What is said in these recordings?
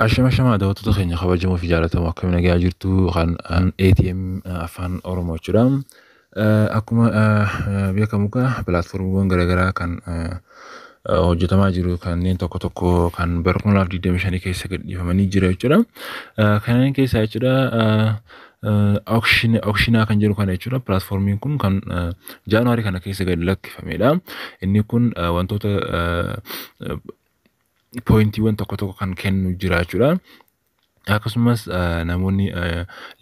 Ashama shamaa daawwattoota keenya kabajamoo fi jaallatamoo akkam nagaa jirtu kan ATM afaan Oromoo jechuudha. Akkuma beekamu egaa pilaatfoormiiwwan garaagaraa kan hojjetamaa jiru kanneen tokko tokko kan bara 2025 keessa gadhiifamanii jira jechuudha. Kanneen keessaa jechuudha okshinaa kan jedhu kana jechuudha pilaatfoormiin kun kan jaanuwaarii kana keessa gad lakkifamedha. Inni kun wantoota pooyintiiwwan tokko tokko kan kennu jira jechuudha. akkasumas namoonni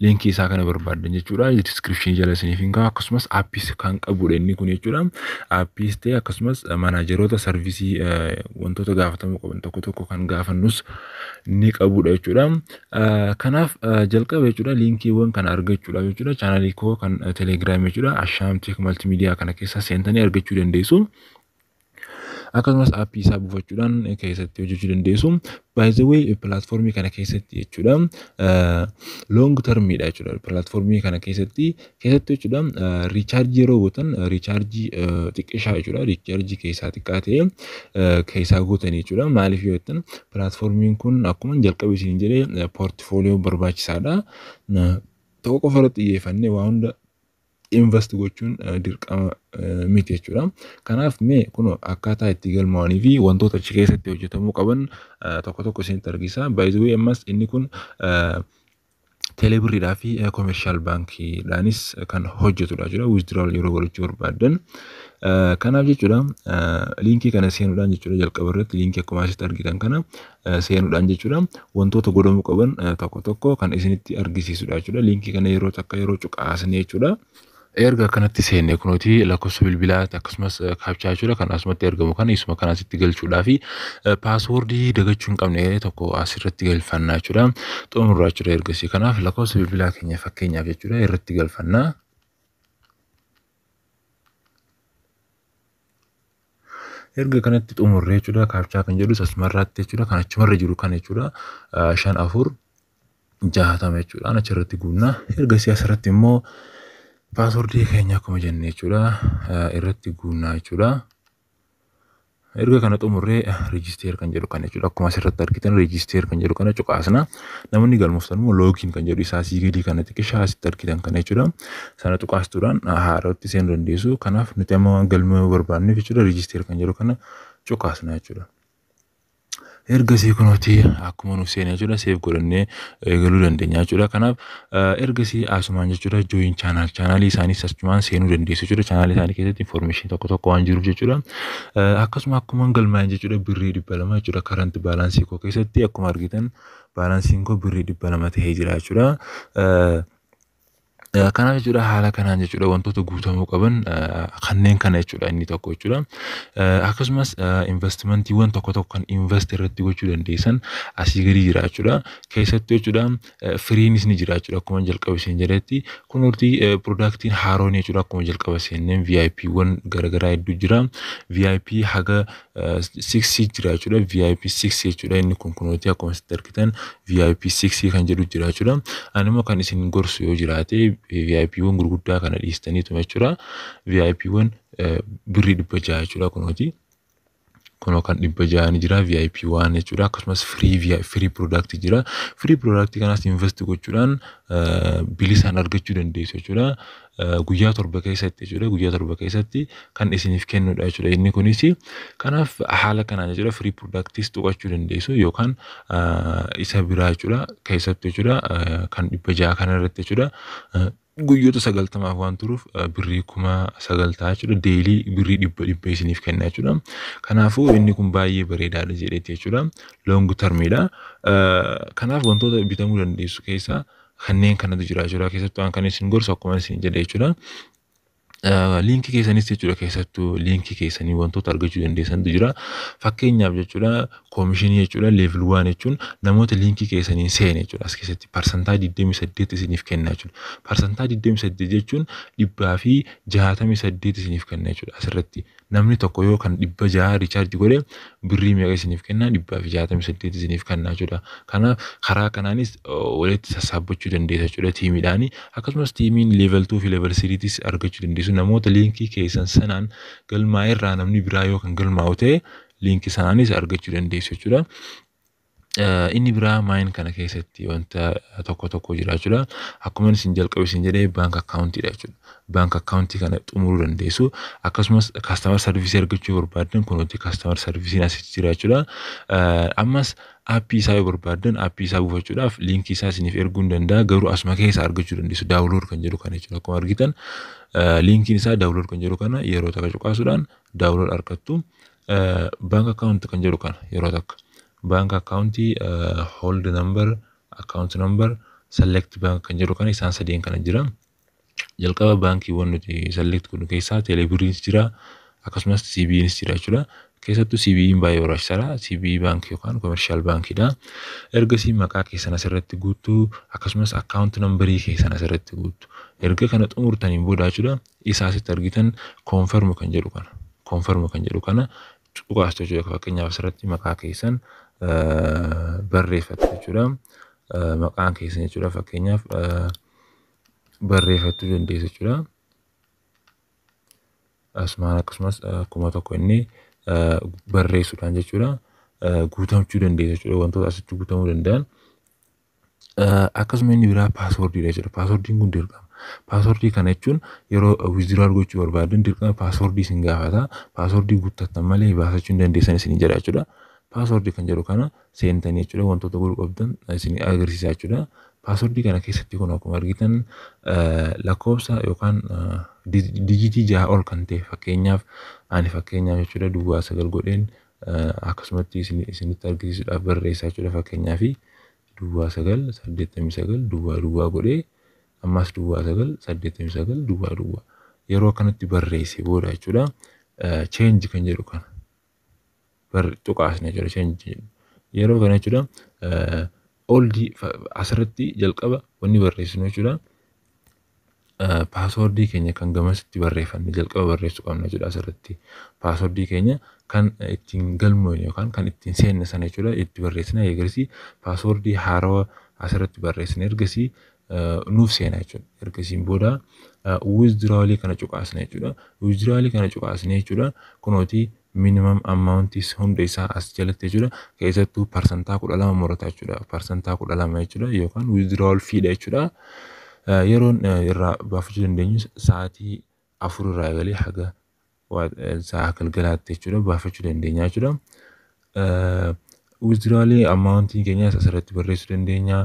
liinkii isaa kana barbaadan jechuudha diskiripshinii jala isiniif hin kaa'u akkasumas appiis kan qabudha inni kun jechuudha appiis ta'e akkasumas manaajeroota sarvisii wantoota gaafatamuu qaban tokko tokko kan gaafannus ni qabudha jechuudha kanaaf jalqaba jechuudha liinkiiwwan kana argachuudha jechuudha chaanalii koo kan telegiraamii jechuudha ashaamtiik maltimiidiyaa kana keessa seentanii argachuu dandeessu. Akkasumas aappii isaa buufachuudhaan keessatti hojjechuu dandeessu. By the way pilaatfoormii kana keessatti jechuudha long termiidha jechuudha. Pilaatfoormii kana keessatti keessatti jechuudha riichaarjii yeroo gootan riichaarjii xiqqishaa jechuudha. Riichaarjii keessaa xiqqaa ta'e keessaa gootan jechuudha. Maaliif yoo jettan pilaatfoormiin kun akkuma jalqabe isin jedhee poortifooliyoo barbaachisaadha. Tokko qofa irratti xiyyeeffannee waa hunda invest gochuun dirqama miti jechuudha. Kanaaf mee kun akkaataa itti galmaa'anii fi wantoota achi keessatti hojjetamuu qaban tokko tokko isinitti argisiisa. By the way ammas inni kun teeleebirriidhaa fi koomershaal baankiidhaanis kan hojjetudha jechuudha. Wizdiraal yeroo godhachuu barbaaddan. Kanaaf jechuudha liinkii kana seenuudhaan jechuudha jalqaba irratti liinkii akkuma asitti argitan kana seenuudhaan jechuudha wantoota godhamuu qaban tokko tokko kan isinitti argisiisudha jechuudha liinkii kana yeroo takka yeroo cuqaasne jechuudha. Erga akkanatti seenne kunooti lakkoofsa bilbilaatti akkasumas kaapchaa jechuudha kan asumatti argamu kana isuma kana asitti galchuudhaa fi paaswoordii dagachuu hin qabne tokko asirratti galfannaa jechuudha xumurraa jechuudha ergasii kanaaf lakkoofsa bilbilaa keenya fakkeenyaaf jechuudha irratti galfannaa. erga kanatti xumurre jechuudha kaabchaa kan jedhus asumarraatti jechuudha kan achumarra jiru kan jechuudha shan afur jahatama jechuudhaan achirratti guunnaa erga siyaasa irratti immoo paaswordii keenya akkuma jenne jechuudha irratti guunnaa jechuudha erga kana xumurree reejisteer kan jedhu kan jechuudha akkuma asirratti argitan reejisteer kan jedhu kana cuqaasna Namoonni galmooftan immoo loogiin kan jedhu isaa asii gadii kana xiqqishaa asitti argitan kana jechuudha. Sana tuqaastuudhaan haarootti seenuu dandeessu. Kanaaf nuti amma waan galmeeffamuu barbaanneef jechuudha rijisteer kan jedhu kana cuqaasna jechuudha. Ergasii kunuuti akkuma nuuf seenaa jechuudha seef godhannee eegaluu dandeenya jechuudha. Kanaaf Ergasii asumaan jechuudha join channel channel isaaniis achumaan seenuu dandeessu jechuudha channel isaanii keessatti information tokko tokko waan jiruuf jechuudha akkasuma akkuma galmaa'in jechuudha birrii dhibba lama jechuudha current balance koo keessatti akkuma argitan balansiin koo birrii dhibba lama ta'ee jira jechuudha. Kanaaf jechuudha haala kanaan jechuudha wantoota guutamuu qaban kanneen kana jechuudha inni tokko jechuudha. Akkasumas investimantiiwwan tokko tokko kan invest irratti gochuu dandeessan asii gadii jira jechuudha. Keessattuu jechuudha firiinis ni jira jechuudha akkuma jalqaba isin jedhetti kun horti piroodaaktiin haaroon jechuudha akkuma jalqaba seenneen VIP wan garagaraa hedduu jira VIP haga 6 jira jechuudha VIP 6 jechuudha inni kun kunooti akkuma isin argitan VIP 6 kan jedhu jira jechuudha anuma kan isin gorsu yoo jiraate VIP wan gurguddaa kana dhiistanii tuma jechuudha VIP wan birrii dhibba jaha jechuudha kunooti. kunoo kan dhibba ja'a ni jira VIP waan jechuudha akkasumas free VIP free product jira free product kanas invest gochuudhaan eh, bilisaan argachuu dandeessu jechuudha Eh, guyyaa torba keessatti jechuudha guyyaa torba keessatti kan isiniif kennudha jechuudha inni kunis kanaaf haala kanaan jechuudha free productis tuqachuu dandeessu yookaan eh, isa biraa jechuudha keessattuu jechuudha eh, kan dhibba ja'a kana irratti jechuudha Eh, guyyoota sagaltamaaf waan turuuf birrii kuma sagal ta'a jechuudha. Deelii birrii dhibba dhibba isiniif kenna jechuudha. Kanaafuu inni kun baay'ee bareedaadha jedheeti jechuudha. Loongu tarmiidha. Kanaaf wantoota bitamuu dandeessu keessaa kanneen kanatu jira jechuudha. Keessattuu waan kana isin gorsu akkuma isin jedhe jechuudha. liinkii keessanis jechuudha keessattuu liinkii keessanii wantoota argachuu dandeessantu jira fakkeenyaaf jechuudha koomishinii jechuudha leevil waan jechuun namoota liinkii keessanii seene jechuudha as keessatti parsantaa 28 isiniif kenna jechuudha parsantaa 28 jechuun dhibbaa fi 68 isiniif kenna jechuudha asirratti Namni tokko yoo kan dhibba ja'a recharge godhe birrii meeqa isiniif kenna dhibba fi jaatamii saddeet isiniif kenna jechuudha. Kanaaf karaa kanaanis walitti sassaabbachuu dandeessa jechuudha tiimiidhaani. Akkasumas tiimiin level 2 fi level 3 tis argachuu dandeessu. Namoota liinkii keessan sanaan galmaa'e irraa namni biraa yoo kan galmaa'u ta'e liinkii sanaanis argachuu dandeessu jechuudha. Inni biraa maayin kana keessatti wanta tokko tokko jira jechuudha. Akkuma isin jalqabe isin jedhee baank akkaawuntiidha jechuudha. Baank akkaawuntii kana xumuruu dandeessu. Akkasumas kaastamar sarvisii argachuu barbaaddan kunuuti kaastamar sarvisiin asitti jira jechuudha. Ammas aappii isaa yoo barbaaddan aappii isaa buufachuudhaaf liinkii isaa isiniif erguu ni danda'a. Garuu asuma keessa argachuu dandeessu. Daawulood kan jedhu kana jechuudha. Akkuma argitan liinkiin isaa daawulood kan jedhu kana yeroo takka cuqaasuudhaan daawulood argattu. Bank account kan jedhu kana yeroo takka bank account hold number account number select bank kan jedhu kana isaan sadeen kana jira. Jalqaba baankiiwwan nuti select godhu keessaa teeleebiriinis jira akkasumas CBInis jira jechuudha. Keessattuu CBIin baay'ee barbaachisaadha. CBI baankii yookaan komershaal baankiidha. Ergasii maqaa keessan asirratti guuttu akkasumas account numberii keessan asirratti guuttu. Erga kana xumurtaniin booda jechuudha Isa asitti argitan confirm kan jedhu kana confirm kan jedhu kana cuqaastu jechuudha. Fakkeenyaaf asirratti maqaa keessan barreeffattu jechuudha. Maqaan keessan jechuudha fakkeenyaaf barreeffattu dandeessu jechuudha. Asumaan akkasumas kuma tokko inni barreessuudhaan jechuudha guutamchuu dandeessu jechuudha. Wantoota asitti guutamuu danda'an Akkasuma inni biraa paaswoordiidha jechuudha. Paaswoordiin kun dirqama. Paaswoordii kana jechuun yeroo wizdiraal gochuu barbaadan dirqama paaswoordii isin gaafata. Paaswoordii guuttattan malee baasachuu hin dandeessan isin jedha jechuudha. Paaswoordii kan jedhu kana seentanii jechuudha wantoota godhuu qabdan isin agarsiisa jechuudha. Paaswoordii kana keessatti kun akkuma argitan lakkoofsa yookaan dijitii jaha ol kan ta'e fakkeenyaaf ani fakkeenyaaf jechuudha duwwaa sagal godheen akkasumatti isinitti argisiisuudhaaf barreessaa jechuudha fakkeenyaaf duwwaa sagal saddeettamii sagal duwwaa duwwaa godhee ammaas duwwaa sagal saddeettamii sagal duwwaa duwwaa yeroo akkanatti barreesse booda jechuudha cheenji kan jedhu kana tuqaasna jechuudha cheenji yeroo kana jechuudha oldi asirratti jalqaba wanni barreessinu jechuudha. Paaswordii keenya kan gamasitti barreeffanne jalqaba barreessuu qabna jechuudha asirratti. Paaswordii keenya kan ittiin galmoofne yookaan kan ittiin seenne sana jechuudha itti barreessina eegasii paaswordii haarawa asirratti barreessina ergasii nuuf seena jechuudha. Ergasiin booda wizdiraawalii kana cuqaasna jechuudha. Wizdiraawalii kana cuqaasna jechuudha. Kunooti minimum amount is hunda isaa as jalatti jechuudha keessattuu parsantaa 12 murata jechuudha parsantaa 12 jechuudha yookaan withdrawal fee dha jechuudha yeroon irraa baafachuu dandeenyu sa'aatii afur irraa eegalee haga sa'a galgalaatti jechuudha baafachuu dandeenya jechuudha withdrawalii ammaawuntiin keenyaas asirratti barreessuu dandeenya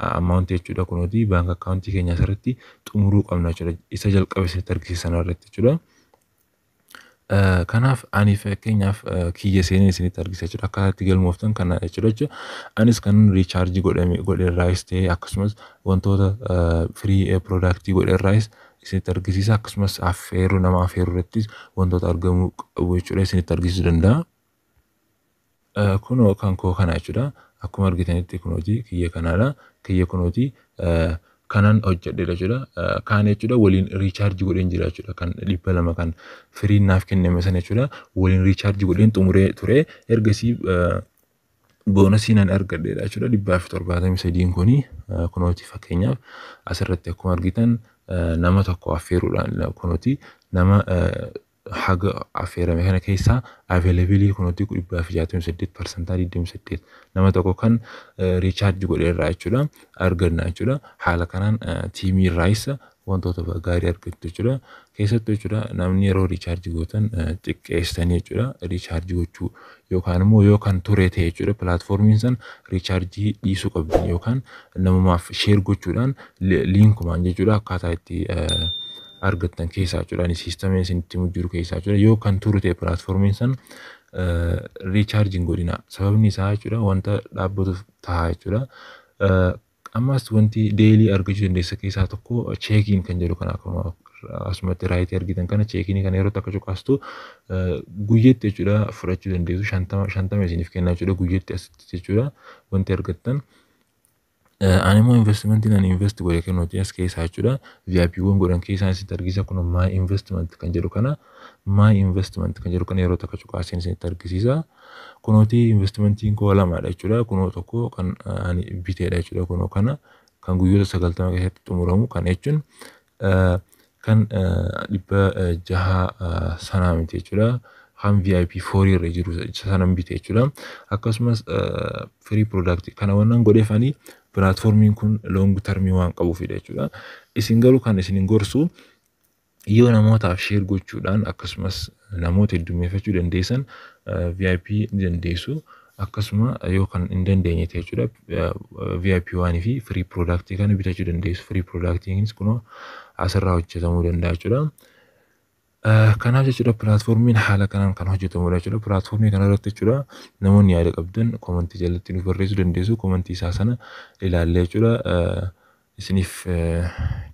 ammaawuntii jechuudha kunuuti baank akkaawuntii keenya asirratti xumuruu qabna jechuudha isa jalqabe isinitti argisiisan irratti jechuudha Kanaaf ani fakkeenyaaf kiyya seenee isinitti argisiisa jechuudha. Akkaataa itti galmooftan kana jechuudha jechuudha. Anis kan riichaarjii godhame godherraayis ta'ee akkasumas wantoota firii piroodaaktii godherraayis isinitti argisiisa akkasumas affeeruu nama affeeruu irrattis wantoota argamuu qabu jechuudha isinitti argisiisuu danda'a. kunoo kan koo kana jechuudha akkuma argitanitti kunooti kiyya kanaadha kiyya kunooti kanan hojjedhedha jechuudha kaan jechuudha waliin riichaarji godheen jira jechuudha kan dhibba lama kan firiin naaf kenname sana jechuudha waliin riichaarji godheen xumuree ture ergasii boonasii nan argadheedha jechuudha dhibbaa fi torbaatamii sadiin kuni kunooti fakkeenyaaf asirratti akkuma argitan nama tokko affeeruudhaan kunooti nama haga affeerame kana keessaa availability kunoo xiqqoo dhibba fi jaatamii saddeet parsantaa digdamii saddeet nama tokko kan riichaarji godhe irraa jechuudha arganna jechuudha haala kanaan tiimii irraayis wantoota gaarii argattu jechuudha keessattuu jechuudha namni yeroo riichaarji gootan xiqqeessanii jechuudha riichaarji gochuu yookaan immoo yoo kan ture ta'e jechuudha pilaatfoormiin san riichaarjii dhiisuu qabdan yookaan namumaaf sheer gochuudhaan liinkumaan jechuudha akkaataa itti argattan keessaa jechuudha ani siistamee isinitti himu jiru keessaa jechuudha yoo kan turu ta'e pilaatfoormiin san riichaarjii hin godhina sababni isaa jechuudha wanta dhaabbatuuf tahaa jechuudha Ammas wanti daily argachuu dandeessa keessaa tokko cheekiin kan jedhu kana akkuma asumatti raayitii argitan kana cheekiinii kana yeroo takka cuqaastu guyyatti jechuudha fudhachuu dandeessu shantama shantama isiniif kenna jechuudha guyyatti asitti jechuudha wanti argattan. Ani immoo investimentiin ani invest godhe kan nuti as keessaa jechuudha VIPwwan godhan keessaa isinitti argisiisa kun my investment kan jedhu kana my investment kan jedhu kana yeroo takka cuqaaseen isinitti argisiisa. Kunooti investmentiin koo lamadha jechuudha. Kunoo tokko kan ani biteedha jechuudha. Kunoo kana kan guyyoota sagaltama keessatti xumuramu kan jechuun kan dhibba jaha sanaa miti jechuudha. Kan VIP foorii irra jiru sanan bite jechuudha. Akkasumas firii piroodaaktii kana waan godheef ani pilaatfoormiin kun loongu tarmii waan qabuufidha jechuudha. Isin garuu kan isin hin gorsu Yoo namootaaf sheer gochuudhaan akkasumas namoota heddummeeffachuu dandeessan VIP ni dandeessu. Akkasuma yoo kan hin dandeenye ta'e jechuudha VIP waan fi firii piroodaaktii kana bitachuu dandeessu. Firii piroodaaktiinis kunoo asirraa hojjetamuu danda'a jechuudha. Kanaaf jechuudha pilaatfoormiin haala kanaan kan hojjetamudha jechuudha. Pilaatfoormii kanarratti jechuudha namoonni yaada qabdan komantii jalatti nu barreessuu dandeessu. Komantii isaa sana ilaallee jechuudha. isiniif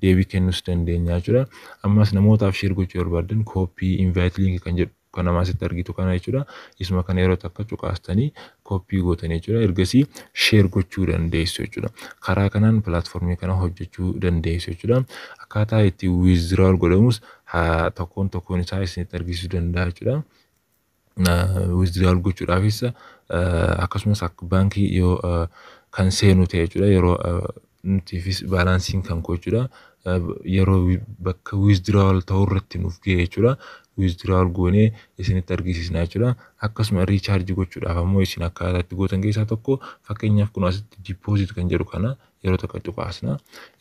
deebii kennuus dandeenya jechuudha. Ammas namootaaf sheer gochuu barbaaddan kooppii invite link kan jedhu kan ammaa asitti argitu kana jechuudha. Isuma kana yeroo takka cuqaastanii kooppii gootanii jechuudha. Ergasii sheer gochuu dandeessu jechuudha. Karaa kanaan pilaatfoormii kana hojjechuu dandeessu jechuudha. Akkaataa itti withdrawal godhamus tokkoon tokkoon isaa isinitti argisiisuu danda'a jechuudha. withdrawal gochuudhaafis akkasumas akka baankii yoo kan seenu ta'e jechuudha yeroo nutiifis baalaansiin kan koo jechuudha yeroo bakka withdrawal ta'uu irratti nuuf ga'e jechuudha withdrawal goonee isinitti argisiisna jechuudha akkasuma riichaarji gochuudhaaf ammoo isin akkaataa itti gootan keessaa tokko fakkeenyaaf kun asitti deposit kan jedhu kana yeroo takka cuqaasna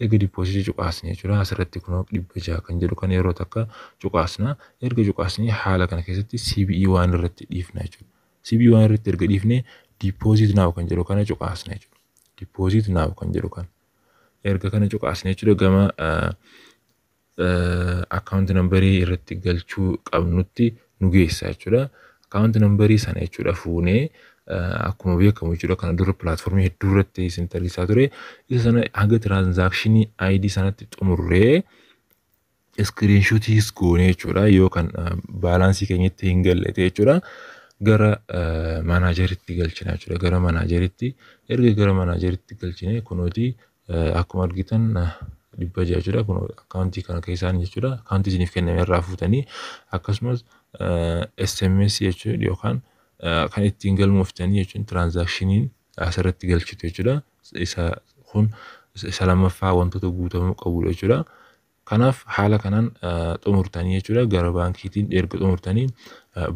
erga dipoositii cuqaasne jechuudha asirratti kunoo dhibba jaha kan jedhu kan yeroo takka cuqaasna erga cuqaasne haala kana keessatti CBE waan irratti dhiifna jechuudha CBE waan irratti erga dhiifne dipoosiit naaw kan jedhu kana cuqaasna jechuudha dipoosiit naaw kan jedhu kana erga kana cuqaasne jechuudha gama account number irratti galchuu qabnutti nu geessa jechuudha. Account number sana jechuudha fuunee akkuma beekamu jechuudha kana dura platformii hedduu irratti isin tarrisaa ture isa sana hanga transaction ID sanatti xumurree screenshotis goonee jechuudha yoo kan baalaansii keenyatti hin galle ta'e jechuudha. gara manaajeritti galchina jechuudha. Gara manaajeritti erga gara manaajeritti galchine kunooti akkuma argitan dhibba ja'a jechuudha kun akkaawuntii kana keessaan jechuudha akkaawuntii isiniif kenname irraa fuutanii akkasumas sms jechuudha yookaan kan ittiin galmooftanii jechuun tiraanzaakshiniin asirratti galchitu jechuudha isa kun isa lammaffaa wantoota guutamuu qabudha jechuudha Kanaaf haala kanaan xumurtanii jechuudha gara baankiitiin erga xumurtanii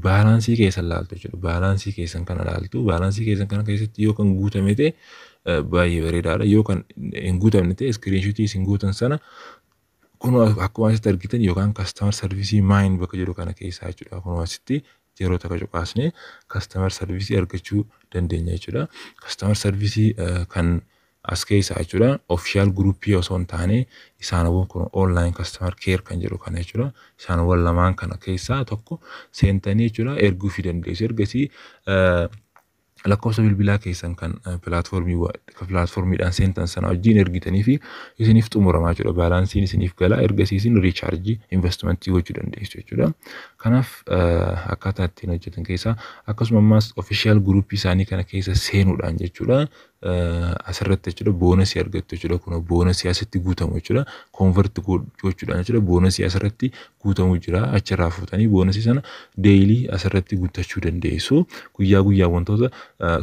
baalaansii keessan laaltu jechuudha. Baalaansii keessan kana laaltu baalaansii keessan kana keessatti yoo kan guutame ta'e baay'ee bareedaadha. Yoo kan hin guutamne ta'e iskiriinshuutii isin gootan sana kunoo akkuma asitti argitan yookaan kastamar sarvisii maayin bakka jedhu kana keessaa jechuudha. Kunoo asitti yeroo takka cuqaasnee kastamar sarvisii argachuu dandeenya jechuudha. Kastamar sarvisii kan as keessaa jechuudha official group osoo hin taane isaanowwan kun online customer care kan jedhu kana jechuudha isaanowwan lamaan kana keessaa tokko seentanii jechuudha erguu fi dandeessu ergasii lakkoofsa bilbilaa keessan kan pilaatfoormii pilaatfoormiidhaan seentan sana wajjin ergitanii fi isiniif xumuramaa jechuudha baalaansiin isiniif galaa ergasii isin riichaarjii investimentii gochuu dandeessu jechuudha kanaaf akkaataa ittiin hojjetan keessaa akkasuma ammaas official group isaanii kana keessa seenuudhaan jechuudha asirratti jechuudha boonasii argattu jechuudha kun boonasii asitti guutamu jechuudha konvert gochuudhaan jechuudha boonasii asirratti guutamu jira achirraa fuutanii boonasii sana deeyilii asirratti guuttachuu dandeessu guyyaa guyyaa wantoota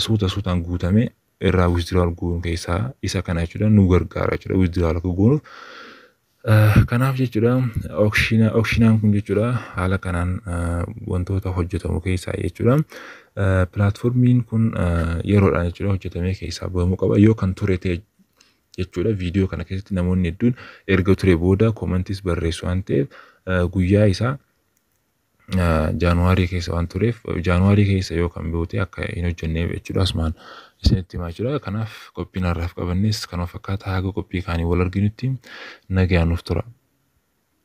suuta suutaan guutame irraa wisdiraal goonu keessaa isa kana jechuudha nu gargaara jechuudha wisdiraal akka goonuuf Kanaaf jechuudha okshiina okshiinaan kun jechuudha haala kanaan wantoota hojjetamu keessaa jechuudha pilaatfoormiin kun yeroodhaan jechuudha hojjetamee keessaa bahamuu qaba yoo kan ture ta'e jechuudha viidiyoo kana keessatti namoonni hedduun erga ture booda koomantis barreessu waan ta'eef guyyaa isaa Jaanuwaarii keessa waan tureef Jaanuwaarii keessa yoo kan boote akka hin hojjenneef jechuudha asumaan isinitti himaa jira. Kanaaf qophiin har'aaf qabannes kanuma fakkaata haga qophii kaanii wal arginutti nagaan nuuf tura.